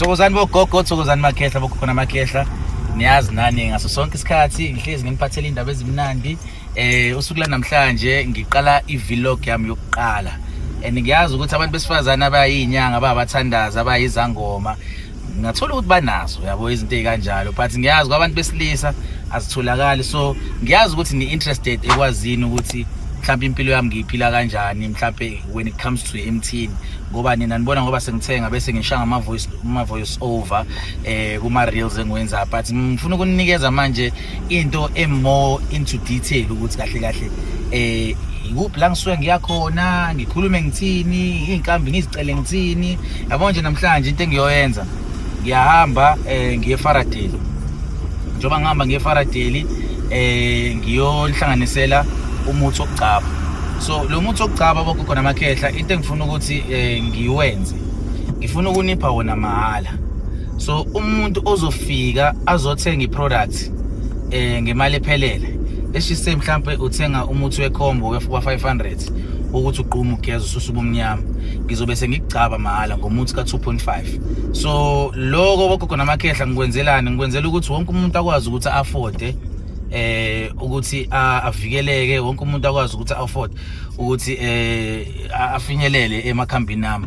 thokozani bogogo thokozani makhehla bokhona makhehla niyazi nani ngaso sonke isikhathi ngihlezi nginiphathela indaba ezimnandi eh usuku lanamhlanje ngiqala i-vlog yami yokuqala and ngiyazi ukuthi abantu besifazane abayinyanga ababathandaza abayizangoma ngathola ukuthi banazo yabo izinto ezikanjalo but ngiyazi kwabantu besilisa azitholakali so ngiyazi ukuthi ni interested ekwazini ukuthi mhlawumbe impilo yami ngiyiphila kanjani mhlawumbe when it comes to emthini ngoba nina nibona ngoba sengithenga bese ngishaya ngama voice ama voice over eh kuma reels engiwenza but ngifuna ukunikeza manje into e more into detail ukuthi kahle kahle eh yikuphi la ngisuke ngiyakhona ngikhulume ngithini izinkambi ngizicele ngithini yabo nje namhlanje into engiyoyenza ngiyahamba eh ngiye Faraday njengoba ngihamba ngiye Faraday eh ngiyonhlanganisela umuthi okugcaba so lo muthi okugcaba bokukhona amakhehla into engifuna ukuthi eh ngiwenze ngifuna ukunipha wona mahhala so umuntu ozofika azothenga iproduct eh ngemali ephelele eshise mhlambe uthenga umuthi wekhombo wefuba 500 ukuthi uqhume ugeza ususa ubumnyama ngizobe sengigcaba mahhala ngomuthi ka-2.5 so loko bogogo namakhehla ngikwenzelani ngikwenzela ukuthi wonke umuntu akwazi ukuthi afode eh ukuthi avikeleke wonke umuntu akwazi ukuthi afford ukuthi eh afinyelele emakhambini nami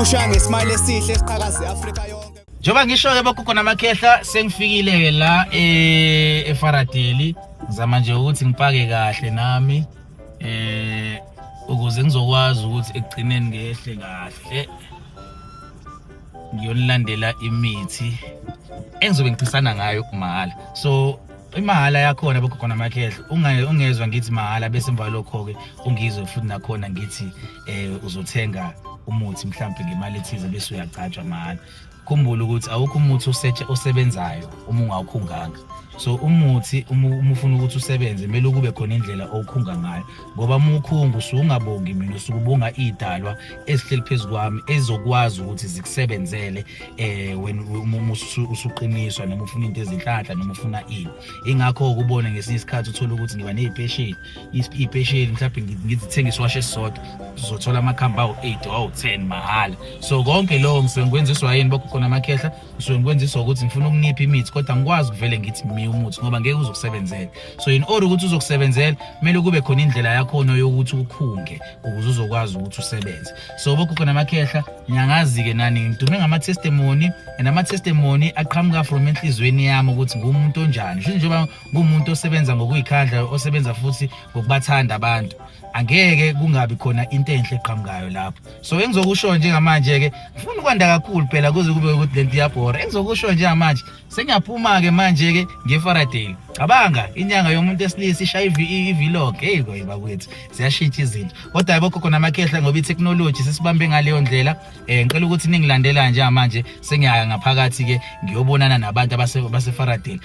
ushaya ngesmile esihle esiqhakaza iAfrika yonke njengoba ngisho-ke bogogo namakhehla sengifikile-ke la eh, efaradeli ngizama nje ukuthi ngipake kahle nami eh ukuze ngizokwazi ukuthi ekugcineni ngehle kahle ngiyonilandela imithi engizobe ngiphisana ngayo kumahhala so imahhala yakhona bogogo namakhehla ungezwa ngithi mahhala bese emva lokho-ke ungizwe futhi nakhona ngithi eh uzothenga umuthi mhlawumbe ngemali ethize bese uyagcatshwa mahhala khumbula ukuthi awukho umuthi osetshe osebenzayo uma ungawukhunganga so umuthi uma ufuna ukuthi usebenze kumele kube khona indlela owukhunga ngayo ngoba uma ukhunga usuke ungabongi mina usuke ubonga iy'dalwa ezihleli phezu kwami ezokwazi ukuthi zikusebenzele um wena uma usuqiniswa noma ufuna into ezinhlanhla noma ufuna ini ingakho-ke ubone ngesinye isikhathi uthole ukuthi ngiba ney'peshini iy'pesheli mhlawumbe ngizithenge isiwasho esisodwa zizothola amakhambi awu-eight awu-ten mahhala so konke lokho ngisuke ngikwenziswa yini bokho khona amakhehla ngisuke ngikwenziswa ukuthi ngifuna ukunipha imithi kodwa ngikwazi ukuvele ngithi mi umuthi ngoba ngeke uzokusebenzela so in order ukuthi uzokusebenzela kumele kube khona indlela yakhona yokuthi ukhunge ukuze uzokwazi ukuthi usebenze so bokho khona amakhehla ngiyangazi-ke nani ngidume ngama-testimony and ama-testimony aqhamuka from enhliziyweni yami ukuthi ngumuntu onjani njengoba kumuntu osebenza ngokuyikhandla osebenza futhi ngokubathanda abantu angeke kungabi khona into enhle eqhamukayo lapho so engizokusho njengamanje ke ngifuna ukwanda kakhulu phela kuze kube ukuthi lento iyabhora engizokusho njengamanje sengiyaphuma ke manje ke ngeFaraday cabanga inyanga yomuntu esilisa ishaya ivilog hey koyiba kwethu siyashintsha izinto kodwa yebo khona amakhehla ngoba itechnology sesibambe ngaleyo ndlela eh ngicela ukuthi ningilandela njengamanje sengiyaya ngaphakathi ke ngiyobonana nabantu abaseFaraday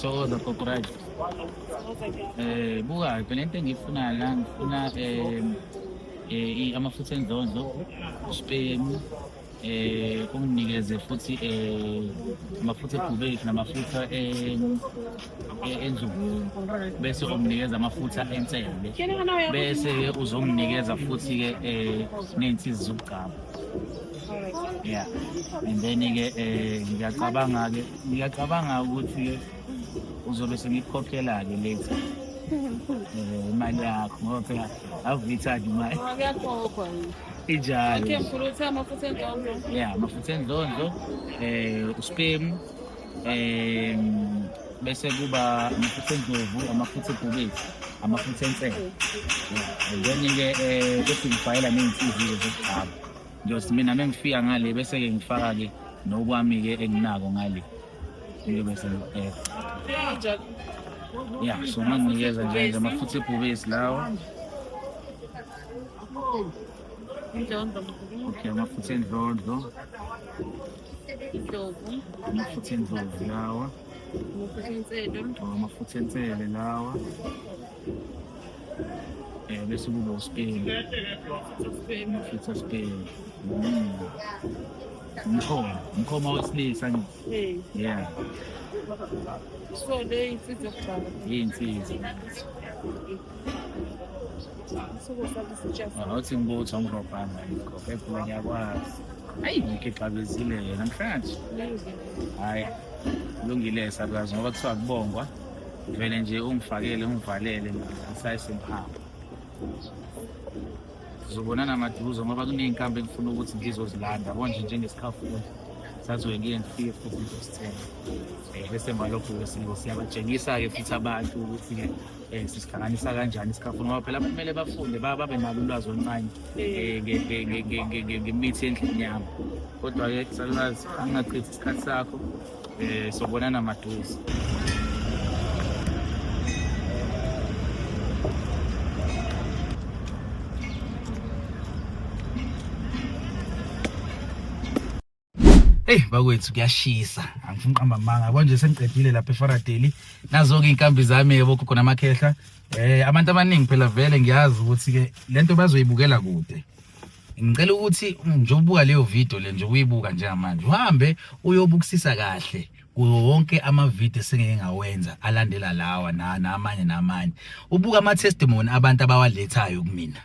Thokoza gogo right. Eh buka ke lento engifuna la ngifuna eh eh amafutha endlondlo, spemu, eh unginikeze futhi eh amafutha egubeki namafutha eh e- enzulu bese umnikeza amafutha ensende bese-ke uzomnikeza futhi-ke um ney'nsizi zokugcaba ya and then-ke um ngiyacabanga-ke ngiyacabanga ukuthi-ke uzobe sengikukhokhela-ke later um imali yakho ngoba phela ave uyithanda imali Ngiyakhokhwa. injalo Khe mkhulu uthe amafutha endondo. ya amafutha enzondo um uspemu um bese kuba amafutha endlovu amafutha ebhubesi amafutha ensele then-ke um eh, bese ngifayela ney'nsizi-ke zokugcaba ngiyothi mina mengifika ngale bese-ke ngifaka-ke nokwami-ke enginako ngale ngiyobe sengiqeda ya so manginikeza njenje amafutha ebhubesi lawo okay amafutha endlondlo Idlovu. Amafutha endlovu lawa. Amafutha enselo. Oh, amafutha ensele lawa. Eh bese kuba uspeni. Amafutha speni. Mm. Umkhoma, umkhoma wesilisa nje. Eh. Yeah. So le insizwa. Insizwa. awuthi ngibutho ngirobhana yikho ekhula ngiyakwazi ayi ngikho ixabezile yena namhlanje hhayi kulungile salukazi ngoba kuthiwa kubongwa vele nje ungifakele ungivalele ngisayisemphamba sizobonana maduze ngoba kuney'nkambi engifuna ukuthi ngizozilanda konje njengesikhafundi sazoye ngiye ngifike futhi ngizosithenga um bese malokhu-ke siyabatshengisa-ke futhi abantu ukuthi-ke um sisihlanganisa kanjani isikhafu ngoba phela kumele bafunde babe nalo ulwazi oluncane eh, ngemithi endlini yami kodwa-ke salulazi angingachithi isikhathi sakho um sobonana maduze Hey bakwethu kuyashisa angifuni uqamba amanga konje sengiqedile lapha eFaradeli nazo ke inkambi zami yebo khona amakhehla eh abantu abaningi phela vele ngiyazi ukuthi ke lento bazoyibukela kude ngicela ukuthi nje ubuka leyo video le nje uyibuka njengamanje uhambe uyobukisisa kahle kuwo wonke amavidiyo esengeke ngawenza alandela lawa namanye namanye ubuka ama-testimony abantu abawalethayo kumina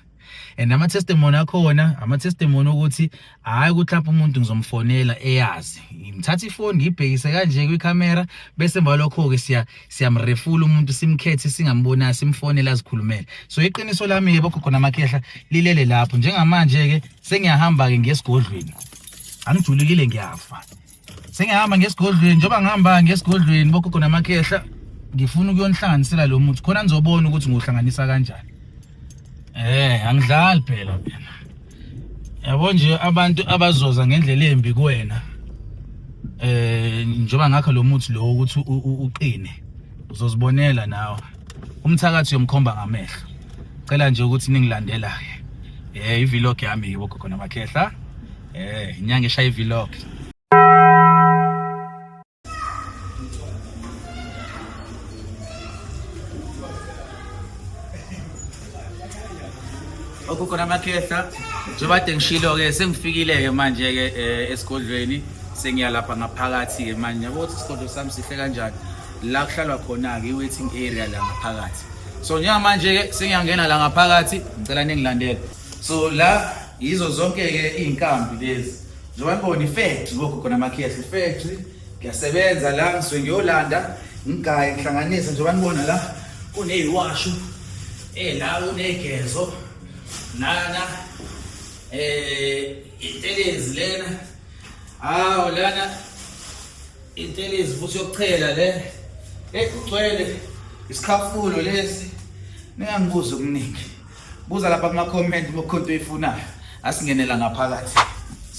and ama testimony akhona ama testimony ukuthi hayi ukuthi lapho umuntu ngizomfonela eyazi ngimthatha ifoni ngibhekise kanje kwi camera bese emva lokho ke siya siyamrefula umuntu simkhethe singambona simfonela azikhulumele so iqiniso lami yebo khokho namakhehla lilele lapho njengamanje ke sengiyahamba ke ngesigodlweni angijulukile ngiyafa sengihamba ngesigodlweni njengoba ngihamba ngesigodlweni bogogo namakhehla ngifuna ukuyonihlanganisela lo muthi khona nizobona ukuthi ngiwuhlanganisa kanjani eh angidlali phela phela yabo nje abantu abazoza ngendlela embi kuwena eh njengoba ngakho lo muthi lo ukuthi uqine uzozibonela nawe umthakathi yomkhomba ngamehlo cela nje ukuthi ningilandela eh ivlog yami yibo khona makhehla Eh, inyanga eshaya i-vlog. okukhona amakhehla njengoba kade ngishilo-ke sengifikile-ke manje-ke um esigodlweni sengiyalapha ngaphakathi-ke manje yabo ukuthi isigodlo sami sihle kanjani la kuhlalwa khona-ke i-waiting area la ngaphakathi so njengamanje-ke sengiyangena la ngaphakathi ngicela ningilandele so la yizo zonke ke izinkambi lezi njengoba ngibona ifactory lokho khona amakhehla ifactory ngiyasebenza la ngisuke ngiyolanda ngigaye ngihlanganise njengoba nibona la kuneyiwashu eh la unegezo nana eh intelezi lena hawo lana intelezi futhi yokuchela le ekugcwele isikhafulo lesi ningangibuza okuningi buza lapha kuma comment uma khonto ifunayo asingenela ngaphakathi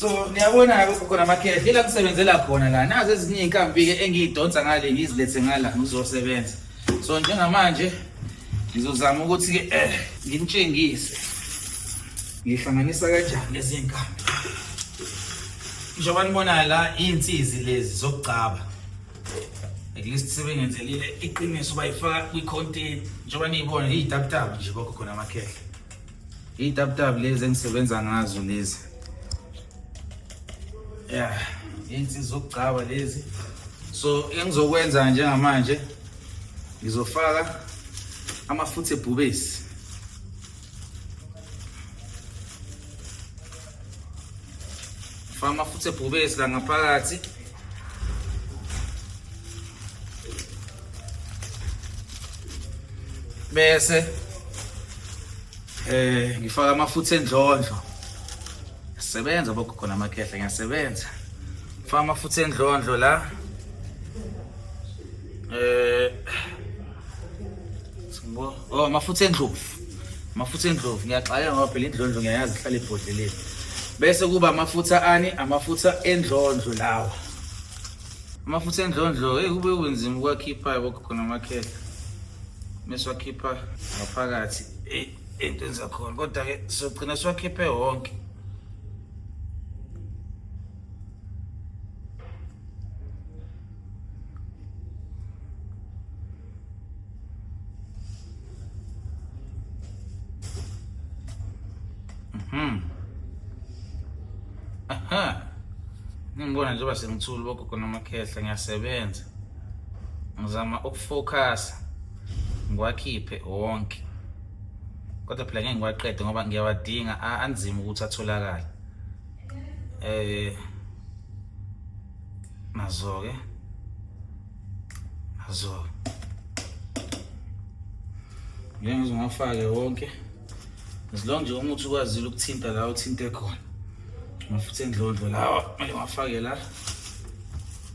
so niyabona lapho kukhona amakhehla ila kusebenzela khona la nazi ezinye inkambi ke engiyidonsa ngale ngizilethe ngala ngizosebenza so njengamanje ngizozama ukuthi ke eh ngintshengise ngihlanganisa kanjani lezi nkambi njengoba nibona la insizi lezi zokugcaba at least sebengenzelile iqiniso bayifaka kwi-contain njengoba niyibona iyitaputap nje bakho khona amakhehla iyitaputap lezi engisebenza ngazo lezi ya insi zokugcaba lezi so engizokwenza njengamanje ngizofaka amafutha ebhubesi faka amafutha ebhubesi la ngaphakathi bese eh ngifaka amafutha endlondlo sebenza bogogo namakhehla ngiyasebenza ngifaka amafutha endlondlo la eh Oh amafutha endlovu. Amafutha endlovu ngiyaxakeka ngoba phela indlondlo ngiyayazi ihlala ibhodleleni. Bese kuba amafutha ani? Amafutha endlondlo lawa. Amafutha endlondlo hey kube kunzima ukwakhipha yabo khona amakhehla. Meswakhipha ngaphakathi. Hey into enzakhona kodwa ke sogcina siwakhiphe wonke. Hmm. Aha. Ningibona njengoba sengithula bogogo namakhehla ngiyasebenza. Ngizama ukufocus ngiwakhiphe wonke. Kodwa phela ngeke ngiwaqede ngoba ngiyawadinga anzima ukuthi atholakale. Eh nazo ke Azo. Ngeke ngizongafake wonke. As long nje umuthi ukwazile ukuthinta la uthinte khona. Mafuthe endlondlo lawa kumele ngafake la.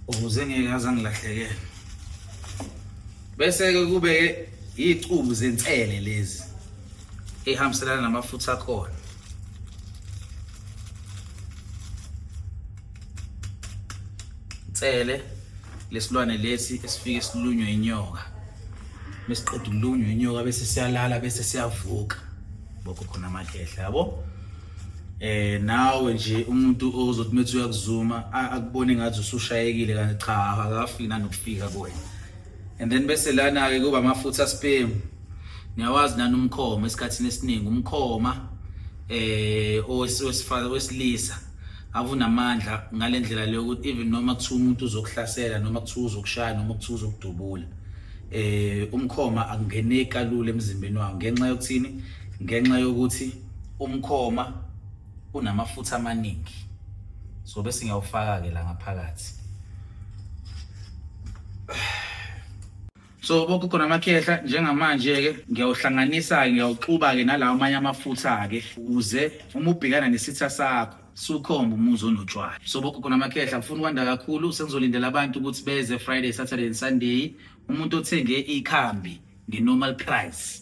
Ukuze ngeke aze angilahlekele. Bese ke kube icubu zensele lezi. Ehambiselana namafutha akhona. Tsele lesilwane lesi esifike silunywe inyoka mesiqeda ukulunywa inyoka bese siyalala bese siyavuka bokho khona amakhehla yabo eh nawe nje umuntu ozothi methi uyakuzuma akubone ngathi usushayekile kanti cha akafiki nanokufika kuwena and then bese lana ke kuba amafutha sperm niyawazi nani umkhoma esikhathini esiningi umkhoma eh owesifazwe wesilisa avunamandla ngalendlela leyo ukuthi even noma kuthiwa umuntu uzokuhlasela noma kuthiwa uzokushaya noma kuthiwa uzokudubula eh umkhoma akungeneki kalula emzimbeni wawo ngenxa yokuthini ngenxa yokuthi umkhoma unamafutha amaningi so bese ngiyawufaka-ke la ngaphakathi so boke khona amakhehla njengamanje-ke ngiyawuhlanganisa-ke ngiyawuxuba-ke nalawo amanye amafutha-ke ukuze uma ubhekana nesitha sakho sukhomba umuzi onotshwala so boke khona amakhehla ngifuna ukwanda kakhulu sengizolindela abantu ukuthi beze friday saturday and sunday umuntu othenge ikhambi nge-normal price